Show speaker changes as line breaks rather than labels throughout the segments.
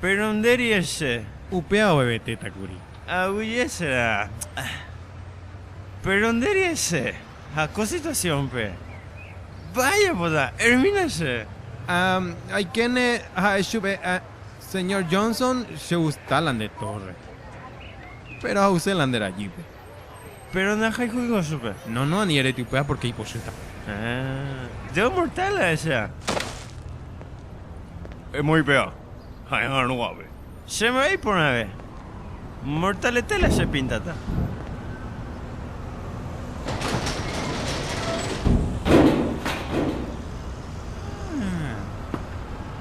Péro nde riese. Upéva ovevetéta kuri. Aguijesera. Péro nde riese. Ha ko situasiónpe. Mba'éichapota. Ermínase. Ha aikéne ha'e chupe, Señór Jonson, chegusta la nde tórre. Péro ha'use la nde rajýpe. Péro ndahayhúivo chupe. No, no, ani erete upéva pórke ipochýta. Ah, Deo mortal la esa. Emoĩ péva, ha'e'arõ guave. Che mba'e iporãve. Mortalete la che pintata. Ah.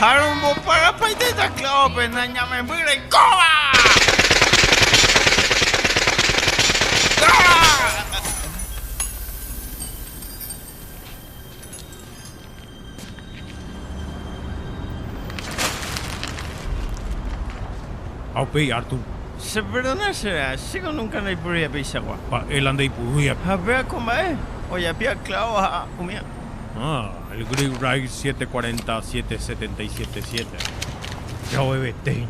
Ha romboparapaitéta clavo-pe nañamemby reikóva. Ha upéi Artur. Cheperdona chéve, chéko nunka ndaiporuiha peichagua. Mba'e la ndeipurúiape. Ha upéva ko mba'e, ojapíva clavo ha umía. Ah, el Great Ride 747777. Jaovevetéina.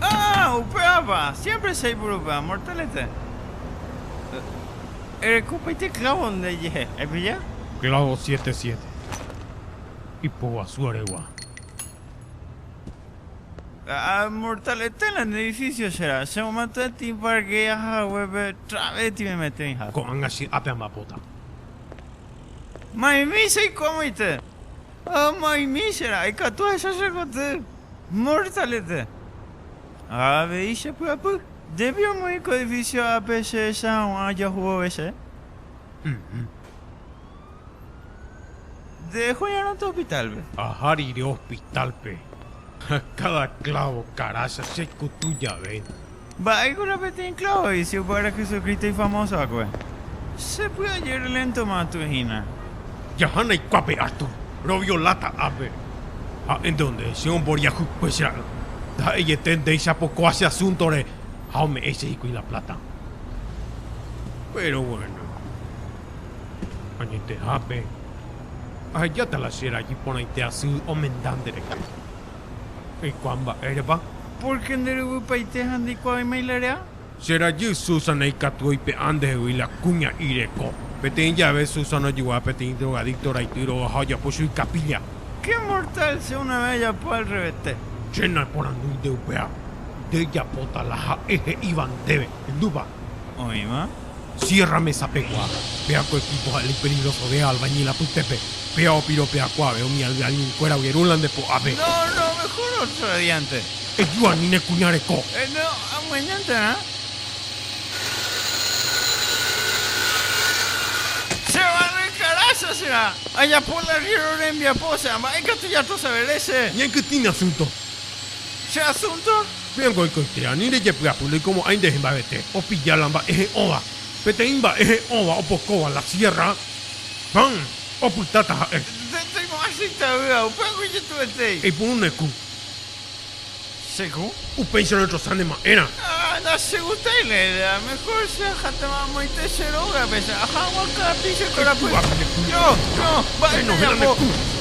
Ah, upévapa, siempre chaipurupe amor telete. Erekopaite clavo ndejehe, aipilla? Clavo siete siete. Ipoguasu aregua. Amor telete la nde edificio chera, che momento de ti parquea hague pe trave ti me mete oiha. Ko'ág̃a che ápe ambapóta. Ma'ẽmi che ikómoite. Ha ma'ẽmi che ra'y katu ahecha che koty. Mortalete. Ha avei che py'apy. Jepi omoĩ ko edifísio ápe che ehecha hag̃ua ajahu vove che. Ym. Nde joñarõta hospitálpe. Aha rire hospitálpe. Ha káda klávo karácha che ikutu jave. Mba'éiko la peteĩ klávo vicio kuáre Jesucristo ifamoso va'ekue? Che py'aje reléntoma atũ hína. Jaha naikuápe atũ, rovioláta ápe. Ha'e nde onde che omboriahuykue che ra'y, ndaha'eiete ndéicha pokoa che asúntore ha ome'ẽ che hikuái la pláta. Péro bueno, añetehápe ahejáta la che ra'y porãite asy omenda nderehe. Eikuaa mba'érepa. Pórke nderyvypaite ha ndeikuaáima ilare'a. Che rajy Susana ikatu oipe'a ndehegui la kuña'i reko. Peteĩ jave Susana ojugua peteĩ drogadicto raity róga ha ojapo chui capilla. Qué mortal che una vez ajapo al revete. Che naporandu nde upéva. Nde japóta la ha'e he'íva ndéve. Hendúpa? Oĩva. Sierra Mesa pegua, pea ko equipo ha'e la ipeligroso de albañil apytépe, pea opiro pea kuave umi al alguien kuéra ogueru la nde po'ape. No, no, mejor otro diante. Eju ani ne kuña reko. Eh, no, amañanterã. Che barre caraza será, ajapo la arriero rembiapo, osea, mba'e katu jatosavere che. Ñaikytĩme asunto. Che asúnto? Piko oikoite ani rejepy'apy loikomo'ãi nde hemba'evete, opilla la mba'e he'õva. Peteĩ mba'e he'õva opokóva la siérra. Pan opytáta ha'e. Che toimo'ãi che itavýva, upéva ko ijetu'etéi. Eipuru ne ku. Che ku. Upéicha notrosa ne ma'érã. Ha nachegustai la idea. Mejor che ajatéma amoite che rógape, che aja hag̃ua kápi che korapy. Che túape ne ku. Ño, ño, mba'e ndajapo.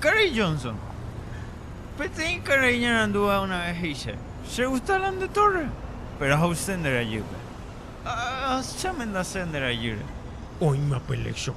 Karai Johnson, Peteĩ karai ñarandúva una ves he'iche, Che gusta la nde torre, péro ahayse nde rajýpe. Ahasháme ndase nde rajýre. Oĩma pe lección.